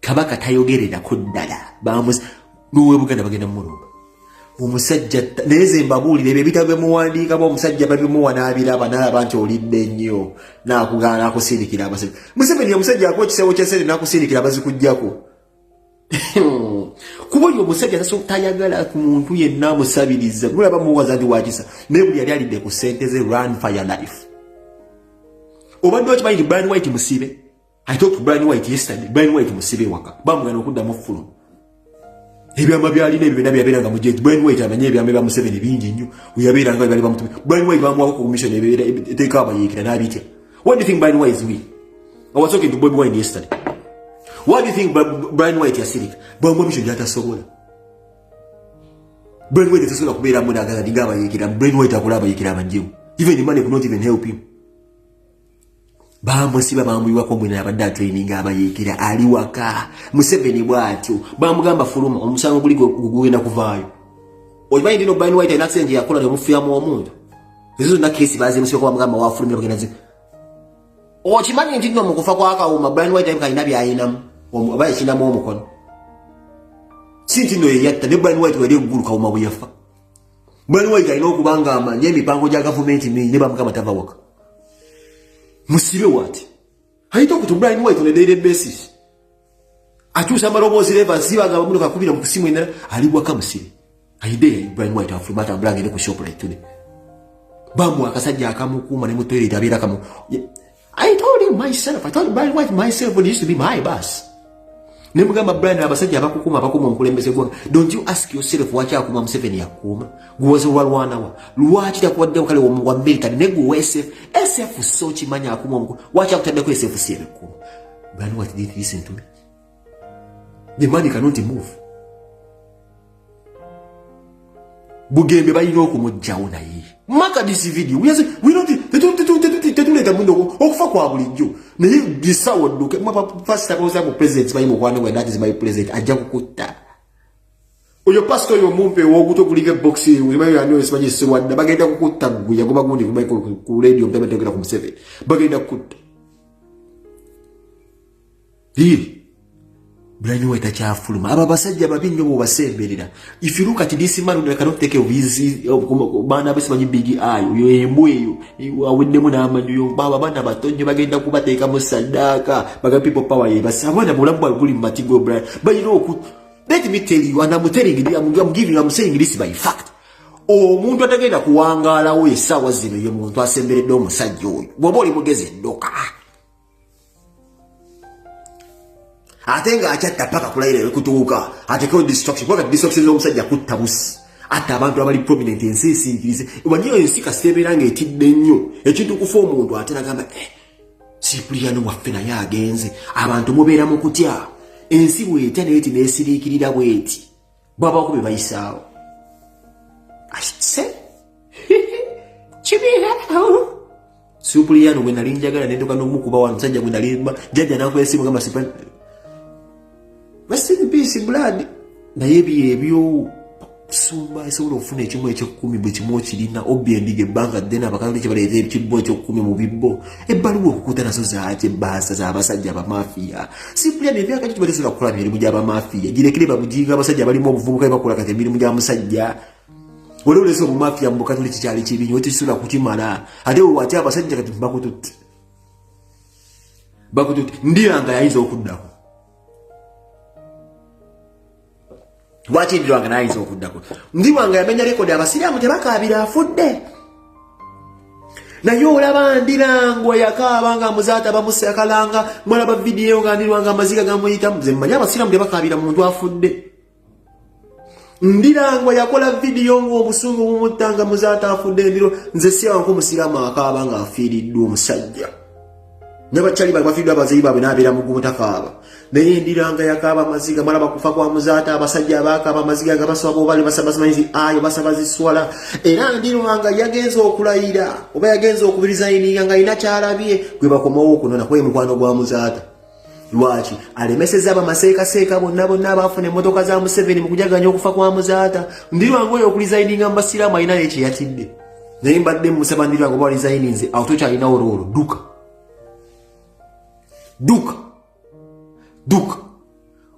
kabaka tayogererako ddala bamuzi nowe buganda bagenda mumulumba omusajja naye ze mbabuulira ebyo ebitabo byemuwandiika ba omusajja babimuwa n'abiraba n'alaba nti olidde nnyo n'akugaana akusindikira abasajja museveni omusajja akuwa ekisewo kya sente n'akusindikira abazikugyako kuba oyo omusajja tayagala ku muntu yenna amusabiriza nolaba muwaza nti wakisa naye buli yali alidde ku sente ze run fire life obadde okimanyi nti brian white musibe I talked to Brian White yesterday. Brian White musibe waka. Bamu gano kuda mufulu. Ebi ama byali ne bibena byabera nga mujeje. Brian White amanye ebi ameba musibe ne bingi nyo. Uyabera nga byali bamutume. Brian White bamu wako commission ne bibera eteka aba yekira na bitya. What do you think Brian White is we? I was talking to Bob Wine yesterday. What do you think Brian White yasirik? Bamu misho jata sobola. Brian White tasobola kubera mu na gaza diga aba yekira. Brian White akula aba yekira banjibu. Even the money could not even help him. bamusiba bamuyiwako mwine abadde atraining abayeekera ali waka museveni bwatyo bamugamba fuluma omusango guli gugenda kuvaayo okimanyi ndino bani white alina senje yakola nemufuyamu omuntu ezo zonna kesi bazimusibako bamugamba wafulumira kugenda zi okimanyi nti nno mukufa kwakawuma bani white time kalina byayinamu oba yakinamu omukono si nti nno yeyatta ne bani white wali eggulu kawuma bwe yafa mwenwaita alina okuba nga amanye emipango gya gavumenti mingi neba mukama tava waka musibe wati ayita okuti brian white on a daily basis akyusa amaloboozi leva nsiba nga bamuno kakubira mu kusimu endala ali waka musibe ayide brian white afuluma atambula agende ku shoprite today bamwa akasajja akamukuuma ne mu toilet abeera kamu I told him myself, I told my wife myself it used to be my bus. Ne mugamba Brian abasajja abakukuma abakuma omukulembeze gwa. Don't you ask yourself waki akuma Museveni yakuma? Gwoze wa lwana wa. Lwaki takuwadde okale wo mugwa military ne gwo SF. SF so kimanya akuma omuku. Waki akutadde ko SF siye bikuma. Brian what did he listen to me? the money cannot move bugembe balina okumugjawo naye maka this video tetuleeta muno okufa kwa bulijjo naye bisawo dduke pasitabaoza mu president bayi mukwano gwe that is my president ajja kukutta oyo pasita oyo omumpe woguto guliko ebokisi ulimayoyaniosimanyi siwadda bagenda kukutta gwe yagoba gundi ku radio mutametogera ku museveni bagenda kukutta Hii. Brani weta chafuluma. Aba basajja babi nyo bobasembelera. If you look at this man we cannot take of his bana bese manyi big eye. Uyo embwe yo. Awinde muna amanyo yo. Baba bana batonye bagenda kubateka mu sadaka. Baga people power ye. Basa wana mulabwa guli matigo Brani. But you know kut. Let me tell you and I'm telling you I'm, I'm giving I'm saying this by fact. Omuntu atagenda kuwangala we sawa zino ye muntu asemberedde omusajja oyo. Bwoba oli mugezi ndoka. ate nga akyatta paka kulayira ebikutuuka atekewo distraction kubanga distraction z'omusajja kutta busi atta abantu abali prominent ensi esinkirize wanyiyo ensi kasita ebeera nga etidde nnyo ekintu kufa omuntu ate nagamba eh, sipuliyano waffe naye agenze abantu mubeera mu kutya ensi bwetya naye ti nesiriikirira bweti bwabaako bye bayisaawo akituse kibiirawo supuliyano gwe nali njagala nendoka nomukuba wa musajja gwe nali jajja nakuba esimu gamba sipa rest in peace blood naye ebyo ebyo kusumba esobola okufuna ekimu ekyekumi bwe kimu okirina obbi endiga ebbanga ddene abakatoliki baleeta ekimu ekyokumi mu bibbo ebbaluwa okukuta nazo zaaki ebbaasa z'abasajja abamafiya simpulya ne ebyaka kituba tesobola kukola mirimu gy'abamafiya girekere babuginga abasajja balimu obuvubuka ebakola kati emirimu gya musajja wali olesa obumafiya mu bukatuli kikyali kibi nyo tekisobola kukimala ate wewaki abasajja kati bakututte bakututte ndiyanga yayinza okuddako lwaki ndirwanga nayinza okuddako ndiwanga yamenya rekodi abasiraamu tebakaabira afudde naye olaba ndirangwa yakaaba nga muzaata bamusakalanga mulaba vidiyo nga ndirwanga amaziga gamuyitamu ze mmanyi abasiraamu tebakaabira muntu afudde ndirangwa yakola vidiyo ng'obusungu bumuttanga muzaata afudde ndiro nze siyawanku omusiraamu akaaba nga afiiriddwa omusajja nabakyali bali bafiiddwa abazeyi baabwe nabeera mugumu tafaaba naye endiranga yakaaba amaziga mala bakufa kwa muzaata abasajja abaakaaba amaziga nga basaba bobali basabasimanyizi ayo basaba ziswala era ndiranga yagenza okulayira oba yagenza okubiriza ininga nga alina kyalabye gwe bakomawo okunona kwemukwano gwa muzaata lwaki alemeseza abamaseekaseeka bonna bonna abaafuna emmotoka za museveni mu kujaganya okufa kwa muzaata ndirwange oyo okulizayininga mu basiraamu alina naye kyeyatidde naye mbadde musaba ndirwange oba alizayininze awo tokyalinawo roolo duka duka duka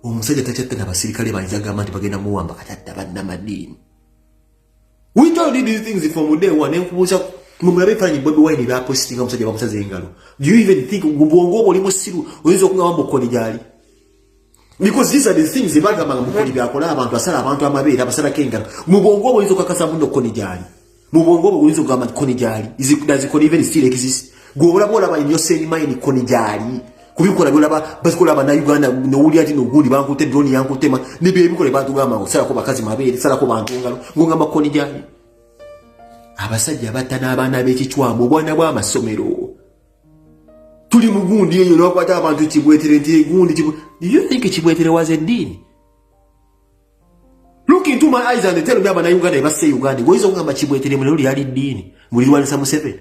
omusajja takyatta na basirikale banjagamba nti bagenda muwamba katatta bannamadiini We told you these things from day one. Nkubuza mumulabe fanyi Bobi Wine ba posting omusajja bamusaze engalo. Do you even think gubongo obo limu siru oyinza okungaba mbukoni gyali? Because these are the things they baga manga mukoli bya kola abantu asala abantu amabeera abasala kengalo. Mubongo obo oyinza okakasa muno koni gyali. Mubongo obo oyinza okugamba koni gyali. Is it does it even still exist? Gwobola bola ba in your same mind koni gyali. kubikola byolaba bazikola abanauganda nowulira nti nogundi bankute droni yankutema nibyo ebikola batugamba ngo salako bakazi mabeere salako bantu ngalo ngongamba kkoni gyali abasajja batta n'abaana b'ekicwamu obwana bw'amasomero tuli mu gundi eyo lwakwata abantu kibwetere nti egundi you think kibwetere was eddiini look into my eyes and tell me abanauganda ebassa e uganda goyinza okugamba kibwetere mulero lyali ddiini mulirwanisa museveni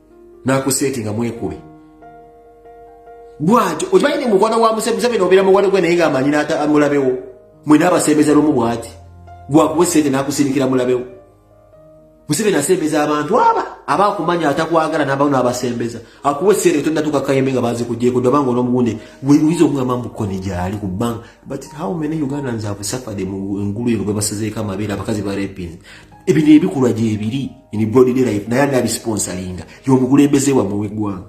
nakusetinga mwekube bwati okimanyi ni mukwano gwa museveni obeera mukwano gwe naye ngaamanyi mulabewo mwena abasembeza lumu bwati gwakuwa esente nakusindikira mulabewo museveni asembeza abantu aba aba akumanya atakwagala nabawo nabasembeza akuwa esente otondatuka kayembe nga bazikujeko dobanga onomuwunde weyinza okugamba mukone gyali ku bank but how many ugandans have suffered mu engulu eno bwebasazeeko amabeere abakazi barepins ebino ebikulwa gyebiri in broad life naye anabi sponsoringa yomukulembeze wamwe wegwanga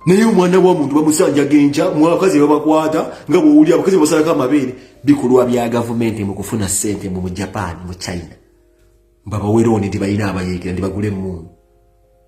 naye omwana wa muntu bamusanja genja mwakazi babakwata nga bwowuli abakazi basalako amabeere bikulwa bya gavumenti mu kufuna sente mu mu japan mu china babawerooni nti balina abayeekera nti bagule emundu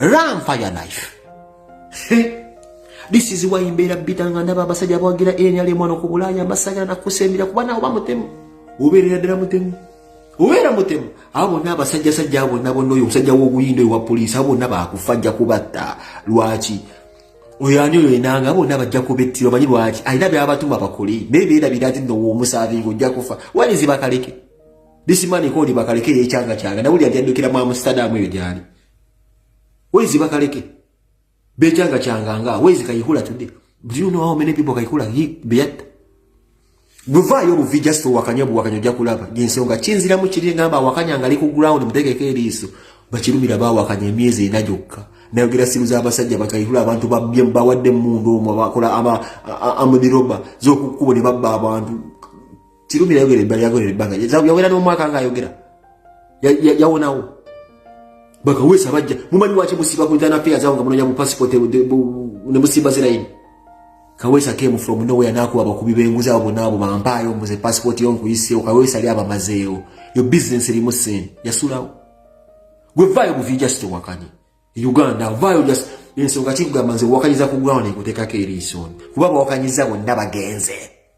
run for your life this is why mbeera bitanga ndaba abasajja abawagira nrm wano ku bulaaya mbasagala nakusembera kuba nawe oba mutemu obeerera ddala mutemu obeera mutemu abo bonna abasajja sajja abo bonna bonna oyo omusajja w'obuyinda oyo wa poliisi abo bonna baakufa ajja kubatta lwaki oyo ani oyo enanga abo bonna bajja kubettira omanyi lwaki alina byabatuma bakole naye beerabira ati nno woomusaavinga ojja kufa walizi bakaleke this man called bakaleke yekyanga kyanga nawuli ajanjukira mu amsterdam eyo gyali Where is Ibakaleke? Bechanga changanga. Where is Kayihula today? Do you know how many people Kayihula he beyat? Buva yo buvi just to wakanya bu wakanya ja kulaba. Gense onga chinzira mu chiri ngamba wakanya ngali ku ground muteke keri isu. Bachirumira ba wakanya miezi inajoka. Na yogira simu za basajja bakayihula abantu babye mbawadde mundu omwa bakola ama amudi roba. Zoku kubo ne babba abantu. Kirumira yayogera ebbali yagolera ebbanga yawera n'omwaka nga ayogera yawonawo bakawesa bajja mumanyi waki musiba ku uganda affairs awo nga munonya bu passport ne musimba zirayini kawesa came from nowhere nakuba abakubi benguzi abo bonna abo bampaayo mbuze passport yo nkuyiseewo kawesa yali abamazeewo yo business erimu sente yasulawo gwe vaayo buvi just wakanye uganda vaayo just ensonga kikugamba nze wakanyiza ku ground ekuteekako eriisooni kuba bawakanyiza bonna bagenze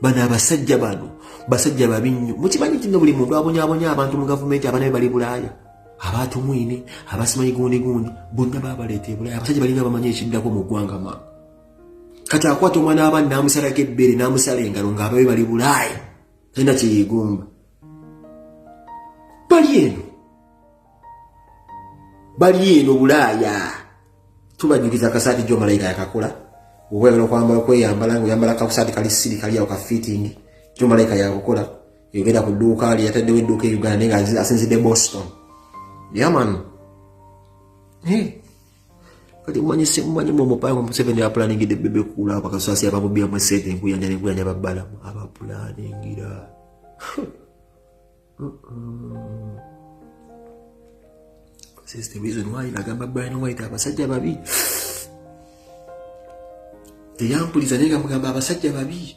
bano abasajja bano basajja babi nnyo mukimanyi nti no buli muntu abonyabonya abantu mu gavumenti abana be bali bulaaya abaatumwine abasimanyi gundi gundi bonna babaleeta ebulaaya abasajja balinga bamanyi ekiddako mu ggwanga ma kati akwata omwana w'abaana n'amusalako ebbeere n'amusala engalo ng'ababe bali bulaaya talina kyeyeegomba bali eno bali eno bulaaya tubanyukiza akasaati jo malayika yakakola obweyagala okwambala okweyambala nga oyambala kakusaati kali siri kali awo ka fitting jo malayika yakukola yogenda ku dduuka ali yataddewo edduuka e uganda nga asinzidde boston yaman kati mumanyi simumanyi mumupanga museveni apulaningidde bebe kuula bakasasi abamubyamu esente enkuyanja nenkuyanja babbalamu abapulaningira This the reason why nagamba Brian White abasajja babi teyampuliza naye nga mugamba abasajja babi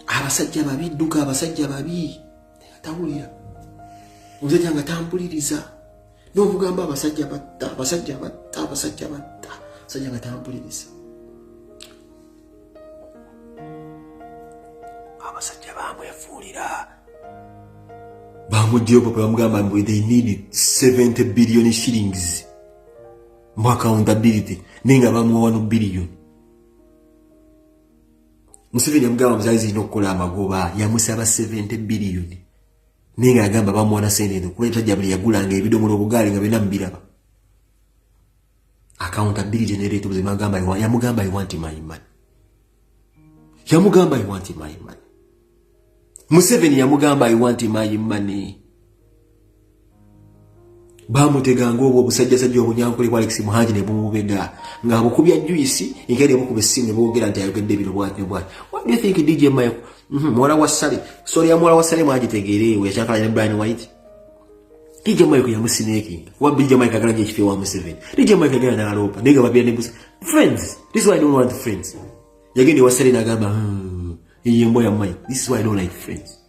abasajja babi dduka abasajja babi tawulira omusajja nga tampuliriza n'obugamba abasajja batta abasajja batta abasajja batta abasajja nga tampuliriza abasajja bamwefuulira bamugyeyo papa bamugamba mbu they need 70 billion shillings mu accountability naye nga bamuwa wano billion museveni yamugamba muzali zirina okukola amagoba yamusaba 70 billion naye nga agamba bamuwana sente eno kuba etajja buli yagulanga ebidomola obugaali nga bena mubiraba accountability neretubuze magamba yamugamba i want my money yamugamba i want my money museveni yamugamba i want my money bamutega ngaobwo obusajjasajja obunyankole bwa alex muhangi ne bumubega ngaabukubya juisi enkaire bukuba essimu ne boogera nti ayogedde bino bwati ne bwati what do you think dj mike mhm, muwala wa sale sori ya muwala wa sale mwagitegeereewo yakyakalanya ne brian white dj mike yamusinekinga kuba dj mike agala nyo ekifo ewa museveni dj mike agenda naloopa naye nga babira ne busa friends this is why i don't want friends yagenda ewa sale nagamba hmm, eyo emboya mike this is why i don't like friends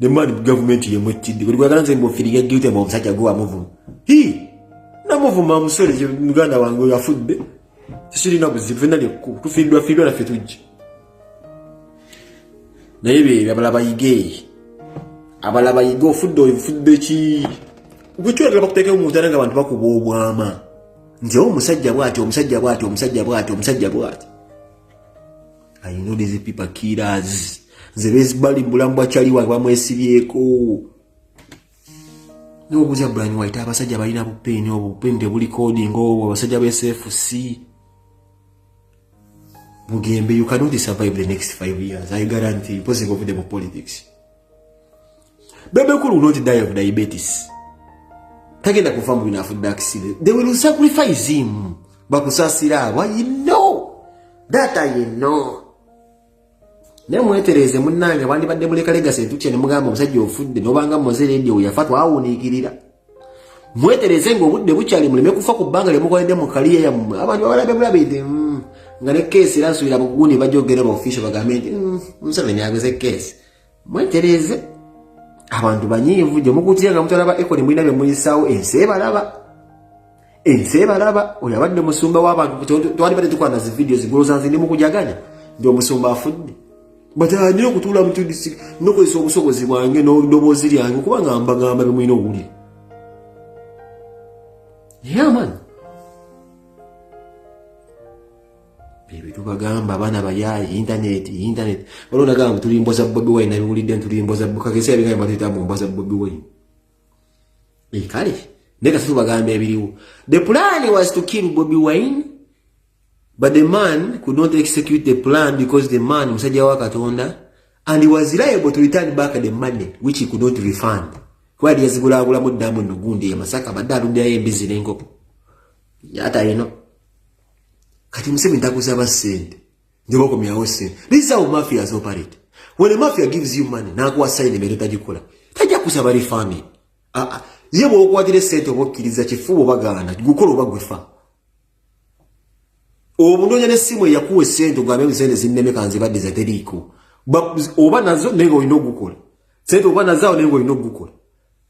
ne mani gavumenti yemu ekkidde buli kwagala nze mbofiriga gyute mu omusajja gwe wamuvuma hi namuvuma omusore muganda wange oyo afudde tekirina buzibu fenna lyekku tufiiddwa fiiddwa naffe tujja naye bebyo abala bayige abala bayige ofudde oyo ofudde ki gwekyolagala bakuteekeo mu ntana nga abantu bakuba obwama nti omusajja bwati omusajja bwati omusajja bwati omusajja bwati I know these people killers. Nze bezibali bulambwa chali wa bamwesibyeko. No buza Brian White abasajja balina bupeni obu pende buli coding obu abasajja be SFC. Mugembe you cannot survive the next 5 years. I guarantee you possible for the politics. Bebe Cool will not die of diabetes. Tagenda kufa mu binafu daksile. They will sacrifice him. Bakusasira abo. You know. That I know. Naye mwetereze munnange bandibadde muleka legasi etukye ne mugamba omusajja ofudde nobanga muze leediyo yafa twawuniikirira mwetereze ng'obudde bukyali muleme kufa ku bbanga lyemukoledde mu kaliya yammwe abantu babalabe bulabidde mm. nga ne keesi era nsuubira bugundi bajogera ba official bagambe nti mm, museveni ageze keesi mwetereeze abantu banyiivu gye mukutira nga mutalaba ekoni mulina bye muyisaawo ensi ebalaba ensi ebalaba oyo abadde musumba w'abantu twali badde tukola nazi vidiyo zigoloza nzi ndi mukujaganya nti omusumba afudde batandire okutuula mu tudisi nokozesa obusobozi bwange n'odoboozi lyange okuba nga mbagamba bye mulina owulire yamani ebyo tubagamba abaana bayaaye intaneti intaneti waliwo nagamba mbu tuli mboza bobi wine nabiwulidde nti tuli mboza kagese yabigamba batuyita mbu mboza bobi wine eh, kale naye kati tubagamba ebiriwo the plan was to kill bobi wine but the man could not execute the plan because the man musajja wa katonda and he was liable to return back the money which he could not refund kuba yali yazigulaagulamu ddamu nogundi emasaka badde alundirayo embizi n'enkoko yata ino kati museveni takusaba sente njobakomyawo sente this is how mafias operate when a mafia gives you money nakuwa saini mere tagikola tajja kusaba refunding ah, ah. ye bwokwatira esente oba okkiriza kifuba obagaana gukola oba gwefa obunoonya nesimu eyakuwa esente ogambe musente zinneme kanzibaddiza teriiko oba nazo naye nga olina ogukola sente oba nazawo naye nga olina ogukola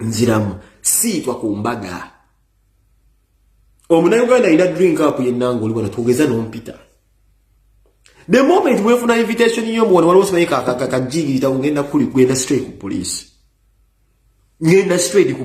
nziramu siitwa ku mbaga omunayuganda alina drink up yennanga oli wano twogeza nompita the moment wefuna invitation yo muwano waliwo sibaye kakajingirita kugenda kuli kugenda straight ku police ngenda straight ku